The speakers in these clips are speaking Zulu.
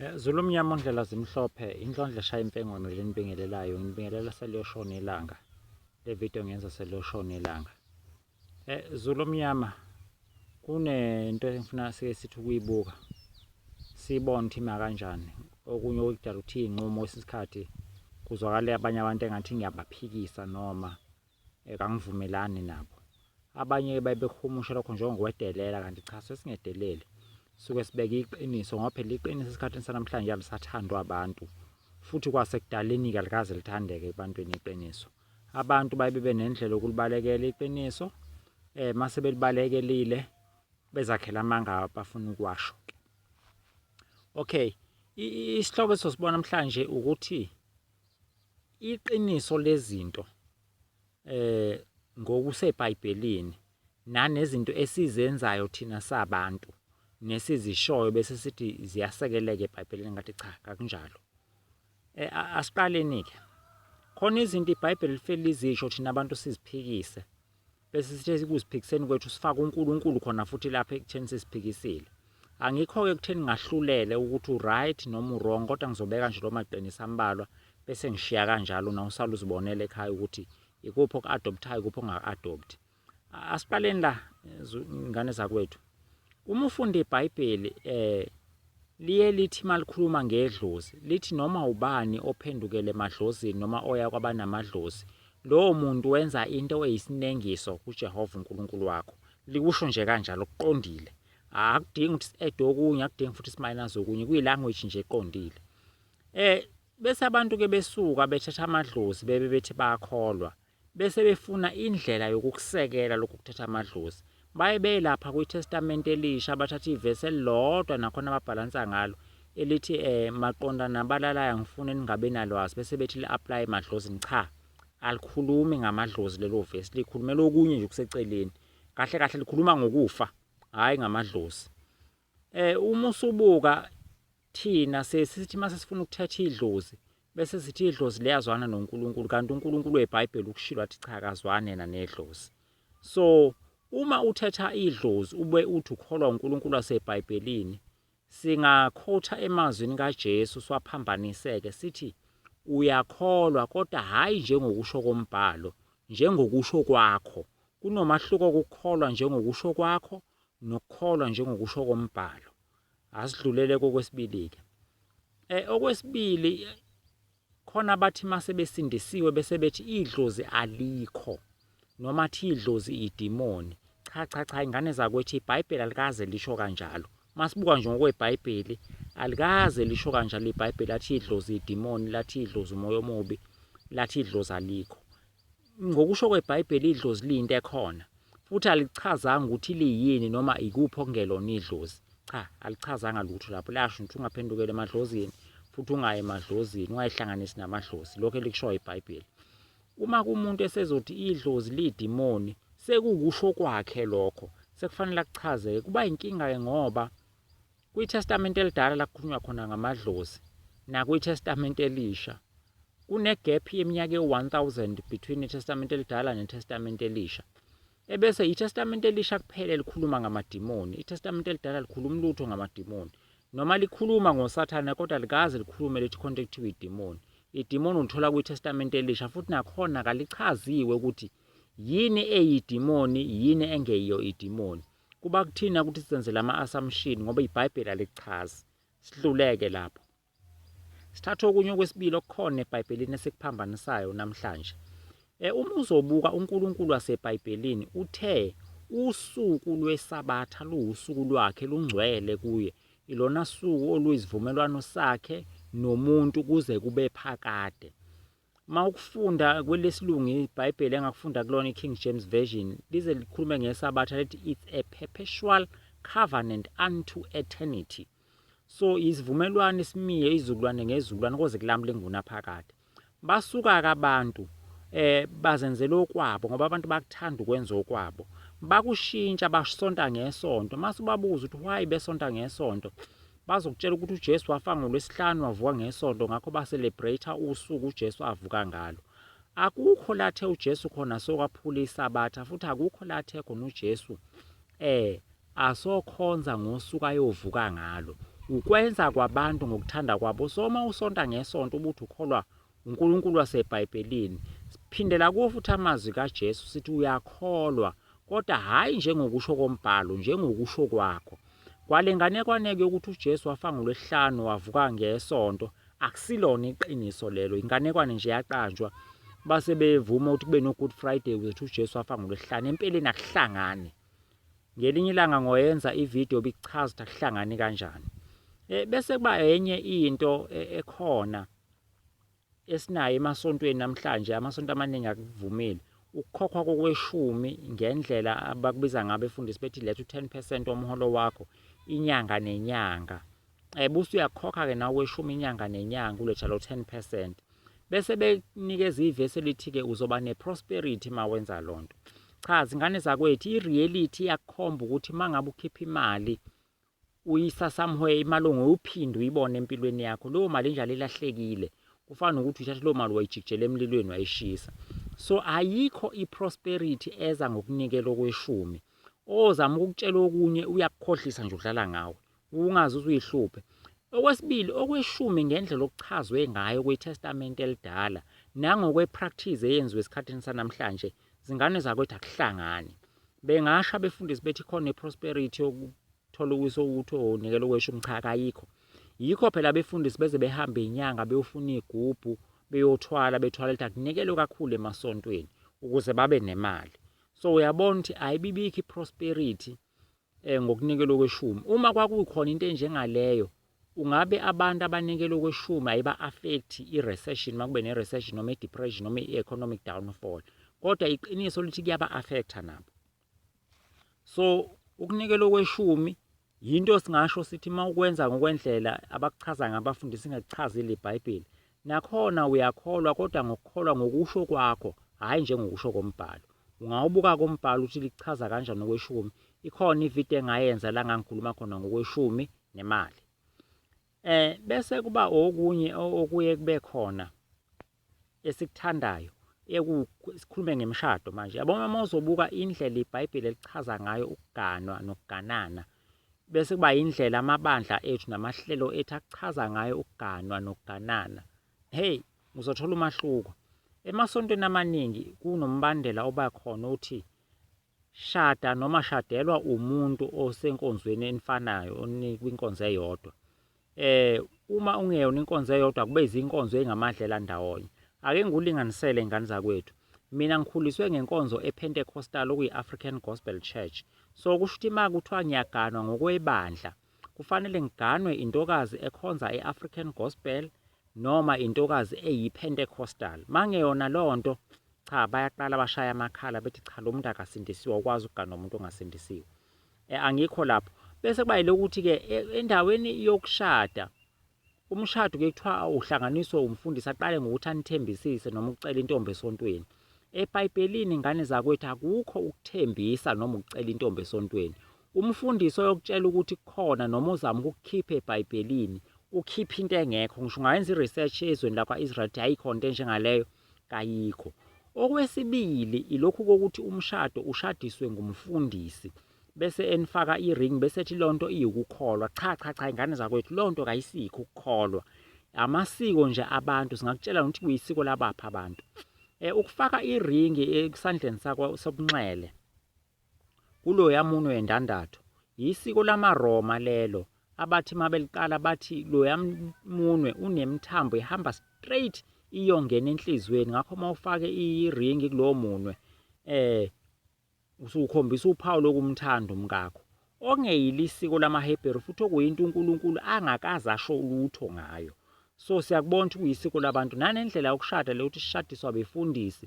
Eh, Zulu mnyama ondlela zimhlophe inhlondla eshaya impengono lenibingelelayo nginibingelela seliyoshona ilanga le video ngenza seliyoshona ilanga eh Zulu mnyama kunento engifuna sike sithi ukuyibuka sibone ukuthi ima kanjani okunye okudala ukuthi inqumo isikhathi kuzwakala abanye abantu engathi ngiyabaphikisa noma eh, kangivumelani nabo abanye babehumusha lokho njengokwedelela kanti cha sesingedeleli suke sibeke iqiniso ngoba phela iqiniso esikhathini sanamhlanje alisathandwa abantu futhi kwasekudaleni kalikaze lithandeke ebantwini iqiniso abantu baye bebe nendlela yokulibalekela iqiniso eh mase belibalekelile bezakhela amanga bafuna ukuwasho okay isihloko esosibona namhlanje ukuthi iqiniso lezinto eh ngokuseBhayibhelini nanezinto esizenzayo thina sabantu nesizishoyo bese sithi ziyasekeleka eBhayibhelini ngathi cha kakunjalo eh, asiqaleni-ke khona izinto iBhayibheli lifele izisho thina abantu siziphikise bese sithe sikuziphikiseni kwethu sifaka uNkulunkulu khona futhi lapha ekutheni sesiphikisile angikho-ke ekutheni ngahlulele ukuthi uright noma urong kodwa ngizobeka nje lo maqiniso ambalwa bese ngishiya kanjalo na usala uzibonela ekhaya ukuthi ikuphi oku-adopthayo ikuphi ongaku-adopthi asiqaleni la ingane zakwethu Uma ufunda iBhayibheli eh liye lithi malikhuluma ngedlozi lithi noma ubani ophendukele emadlozini noma oya kwabanamadlozi lowo muntu wenza into eyisinengiso kuJehova uNkulunkulu wakho likusho nje kanjalo kuqondile akudingi ukuthi si-add okunye akudingi futhi simayinazi okunye kuyi-language nje eqondile um Bese abantu-ke besuka bethatha amadlozi bebe bethi bayakholwa, bese befuna indlela yokukusekela lokhu kuthatha amadlozi. Baye beye lapha kwiTestamente Elisha bathathe ivesi elilodwa nakhona babhalansa ngalo elithi um maqondana nabalalaya ngifune ningabi nalwazi bese bethi li-aplaye emadlozini. Cha, alikhulumi ngamadlozi lelo vesi, likhulumela okunye nje okuseceleni. Kahle kahle likhuluma ngokufa, hhayi ngamadlozi. Um uma usubuka Thina siye sithi uma sesifuna ukuthatha idlozi bese sithi idlozi liyazwana noNkulunkulu kanti uNkulunkulu weBhayibheli ukushilo wathi cha akazwani yena nedlozi. So uma uthatha idlozi ube uthi ukholwa uNkulunkulu waseBhayibhelini singakhotha emazwini kaJesu swaphambaniseke sithi uyakholwa kodwa hhayi njengokusho kombhalo njengokusho kwakho. Kunomahluko ukukholwa njengokusho kwakho nokukholwa njengokusho kombhalo. asidlulele kokwesibili-ke um okwesibili khona abathi uma sebesindisiwe bese bethi idlozi alikho noma athi idlozi idimoni cha cha cha ingane zakwethu ibhayibheli alikaze lisho kanjalo uma sibuka nje ngokwebhayibheli alikaze lisho kanjalo ibhayibheli lathi idlozi idimoni lathi idlozi umoya omubi lathi idlozi alikho Ngokusho kweBhayibheli, idlozi liyinto ekhona, futhi alichazanga ukuthi liyini noma ikuphi okungelona idlozi. Cha, alichazanga lutho lapho. Layasho ukuthi ungaphendukeli emadlozini, futhi ungayi emadlozini, ungayihlanganisi namadlozi. Lokho elikushoyo iBhayibheli. Uma kumuntu esezothi idlozi liyidimoni, sekukusho kwakhe lokho, sekufanele akuchazeke. Kuba inkinga-ke ngoba KwiTestamente Elidala la kukhulunywa khona ngamadlozi nakwiTestamente Elisha kunegap yeminyaka ewu-1000 between iTestamente Elidala neTestamente Elisha. Ebese iTestamente Elisha kuphela elikhuluma ngamadimoni, iTestamente Elidala likhuluma lutho ngamadimoni. Noma likhuluma ngoSathane kodwa likaze likhulume lithi khonto ekuthiwa idimoni. Idimoni ulithola kwiTestamente Elisha futhi nakhona kalichaziwe ukuthi yini eyidimoni, yini engeyiyo idimoni. Kuba kuthina ukuthi senze lama assumption ngoba iBhayibheli alikuchazi. Sihluleke lapho. Sithatha okunye okwesibili okukhona eBhayibhelini esikuphambanisayo namhlanje. Eh uma uzobuka uNkulunkulu waseBhayibhelini uthe usuku lwesabatha luwusuku lwakhe lungcwele kuye. Ilona suku oluyisivumelwano sakhe nomuntu kuze kube phakade. uma ukufunda kwelesilungu ibhayibheli engakufunda kulona i-king james version lize likhulume ngesabatha lithi it's a perpetual covenant unto eternity so isivumelwano isimiye izukulwane ngezukulwane koze kulamule ngunaphakade basuka-ke abantu eh bazenzela okwabo ngoba abantu bakuthanda ukwenza okwabo bakushintsha basonta ngesonto mase ubabuza ukuthi why besonta ngesonto Bazokutshela ukuthi uJesu wafa ngoLwesihlanu wavuka ngeSonto ngakho ba-celebrate usuku uJesu avuka ngalo. Akukho la athe uJesu khona sokwaphula iSabatha futhi akukho la athe khona uJesu eh asokhonza ngosuku ayovuka ngalo. Ukwenza kwabantu ngokuthanda kwabo. So uma usonta ngeSonto ubuthi ukholwa UNkulunkulu waseBhayibhelini. Siphindela kuwo futhi amazwi kaJesu sithi uyakholwa, kodwa hhayi njengokusho kombhalo, njengokusho kwakho. Kwale nganekwaneko yokuthi uJesu wafa ngoLwesihlanu wavuka ngeSonto, akusilona iqiniso lelo, inganekwane nje yaqanjwa. Base bevuma ukuthi kube no-Good Friday ukuze ukuthi uJesu wafa ngoLwesihlanu. Empeleni akuhlangani. Ngelinye ilanga ngoyenza ividiyo bikuchaza ukuthi akuhlangani kanjani. Eh, bese kuba enye into eh, ekhona esinayo emasontweni namhlanje amasonto amaningi akuvumile ukukhokhwa kokweshumi ngendlela abakubiza ngabe efundisi bethi letha u-10 percent womholo wakho inyanga nenyanga um eh, busu uyakhokha-ke nawe kweshumi inyanga nenyanga uletha lo 10 percent bese bekunikeza ivesi elithi-ke uzoba ne-prosperity ma wenza loo nto cha zingane zakwethu i-reality iyakukhomba ukuthi uma ngabe ukhipha imali Uyisa somewhere imali ongoyophinde uyibone empilweni yakho leyo mali enjalo ilahlekile kufana nokuthi uyithathe leyo mali wayijikijela emlilweni wayishisa so ayikho i-prosperity eza ngokunikela okweshumi ozama ukukutshela okunye uyakukhohlisa nje udlala ngawe ungazi uzuyihluphe okwesibili okweshumi ngendlela okuchazwe ngayo kwitestamente elidala nangokwe-practice eyenziwe esikhathini sanamhlanje zingane zakwethu akuhlangani bengasho abefundisi bethi khona i-prosperity yokuthola ukuso ukuthi onikela okweshumi cha kayikho yikho phela abefundisi beze behambe inyanga beyofuna iy'gubhu beyothwala bethwala lithi akunikelwe kakhulu emasontweni ukuze babe nemali so uyabona ukuthi ayibibikho i-prosperity eh, ngokunikelwa okweshumi. Uma kwakukhona into enjengaleyo, ungabe abantu abanikelwa okweshumi ayiba-affect i-recession uma kube ne-recession noma i-depression noma i-economic downfall, kodwa iqiniso lithi kuyaba-affecta nabo. So ukunikelwa okweshumi yinto singasho sithi uma ukwenza ngokwendlela abakuchaza ngabafundisi ingakuchazile iBhayibheli Nakhona uyakholwa kodwa ngokukholwa ngokusho kwakho, hhayi njengokusho komBhalo. Ungawubuka-ke umBhalo ukuthi likuchaza kanjani okweshumi. Ikhona ividiyo engayenza la ngangikhuluma khona ngokweshumi nemali. Eh bese kuba okunye okuye kube khona esikuthandayo sikhulume ngemishado manje yabo uma uzobuka indlela ibhayibheli elichaza ngayo ukuganwa nokuganana bese kuba yindlela amabandla ethu namahlelo ethu achaza ngayo ukuganwa nokuganana. Hey, uzothola umahluko. Emasontweni amaningi kunombandela oba khona othi shada noma shadelwa umuntu osenkonzweni enifanayo kwinkonzo eyodwa. Uma ungeyona inkonzo eyodwa kube izinkonzo ey'ngamadlela ndawonye. Ake ngikulinganisele y'ngane zakwethu. Mina ngikhuliswe ngenkonzo ePentecostal okuyi-African Gospel Church. So kusho ukuthi uma kuthiwa ngiyaganwa ngokwebandla, kufanele ngiganwe intokazi ekhonza e-African Gospel noma intokazi eyiPentecostal. Uma ngeyona leyo nto, cha bayaqala bashaya amakhala bethi cha lo muntu akasindisiwe, awukwazi ukuganwa umuntu ongasindisiwe. eh, angikho lapho bese kuba ilokuthi-ke e, endaweni yokushada umshado ke kuthiwa uhlanganiswe umfundisi aqale ngokuthi anithembisise noma ukucela intombi esontweni ebhayibhelini ingane zakwethu akukho ukuthembisa noma ukucela intombi esontweni umfundisi oyokutshela ukuthi kukhona noma uzama ukukukhipha ebhayibhelini ukhipha into engekho ngisho ungayenza i-research ezweni lakwa-israel ukuthi ayikho nto enjengaleyo kayikho. Okwesibili ilokhu kokuthi umshado ushadiswe ngumfundisi bese enifaka i-ring bese ethi leyo nto iwukukholwa. Cha cha cha ingane zakwethu leyo nto kayisikho ukukholwa. Amasiko nje abantu singakutshela nokuthi kuyisiko labaphi abantu. Eh, ukufaka iringi esandleni sakwa sobunxele Kuloya munwe wendandatho, yisiko lamaRoma lelo abathi uma beliqala bathi loya munwe unemithambo ehamba straight iyongena enhliziyweni ngakho uma ufake iringi kulowo munwe eh usukhombisa uphawu lokumthanda umkakho okungeyile isiko lamaHebheru futhi okuyinto uNkulunkulu angakaze asho lutho ngayo so siyakubona ukuthi kuyisiko labantu nanendlela yokushada le ukuthi sishadiswa befundisi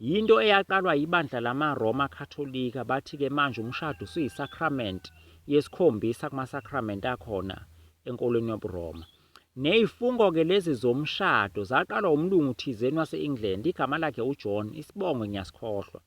Yinto eyaqalwa yibandla lamaRoma Katolika, bathi-ke manje umshado usuyisakramente yesikhombisa kumasakramente akhona enkolweni yobuRoma. Nezifungo-ke lezi zomshado zaqalwa umlungu thizeni wase-England, igama lakhe uJohn, isibongo ngiyasikhohlwa.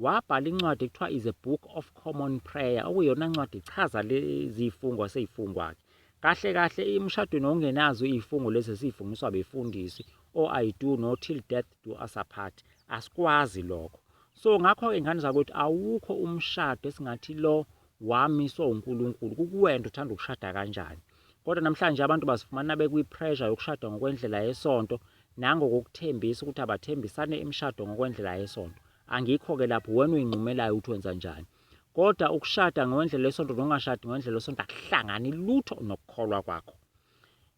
Wabhala incwadi ekuthiwa is a book of common prayer, okuyona ncwadi ichaza lezifungo aseyifungwa-ke. Kahle kahle emshadweni ongenazo izifungo lezi esizifungiswa befundisi, o I do no till death do us apart asikwazi lokho so ngakho-ke ngane zakwethu awukho umshado esingathi lo wamiswa unkulunkulu kukuwena uthanda ukushada kanjani kodwa namhlanje abantu bazifumana bekwi-pressure yokushada ngokwendlela yesonto nangokokuthembisa ukuthi abathembisane imishado ngokwendlela yesonto angikho-ke lapho wena uyinqumelayo ukuthi wenza njani kodwa ukushada ngokwendlela yesonto nokungashadi ngokwendlela yesonto akuhlangani lutho nokukholwa kwakho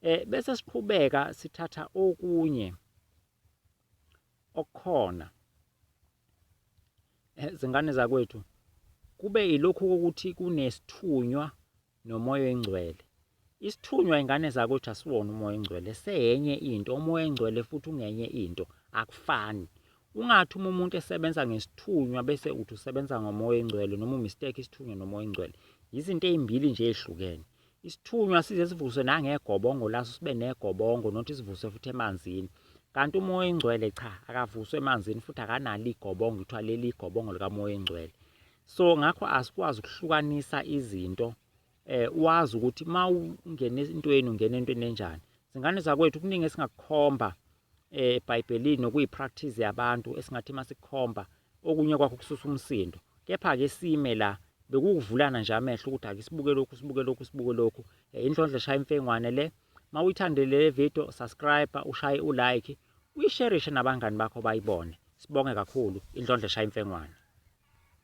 um bese siqhubeka sithatha okunye okay. okukhona eh, zingane zakwethu kube ilokhu kokuthi kunesithunywa nomoya oyingcwele isithunywa ingane zakwethu asiwona umoya oyingcwele seyenye into umoya oyingcwele futhi ungenye into akufani ungathi uma umuntu esebenza ngesithunywa bese uthi usebenza ngomoya oyingcwele noma umistake isithunywa nomoya oyingcwele yizinto ezimbili nje ezihlukene Isithunywa size sivuswe nangegobongo laso sibe negobongo nothi sivuswe futhi emanzini. Kanti umoya oyingcwele cha akavuswe emanzini futhi akanalo igobongo kuthiwa leli igobongo likamoya oyingcwele. So ngakho asikwazi ukuhlukanisa izinto eh wazi ukuthi uma ungena entweni ungena entweni enjani. Zingane zakwethu kuningi esingakukhomba eh, eBhayibhelini nokuyipractice yabantu esingathi masikhomba okunye kwakho kususa umsindo kepha-ke sime la bekukuvulana nje amehlo ukuthi ake sibuke lokhu sibuke lokhu sibuke lokhu eh, inhlondlo shaya imfengwane le ma uyithandele le video subscribe ushaye ulike uyisherishe nabangani bakho bayibone sibonge kakhulu indlondlo shaya imfengwane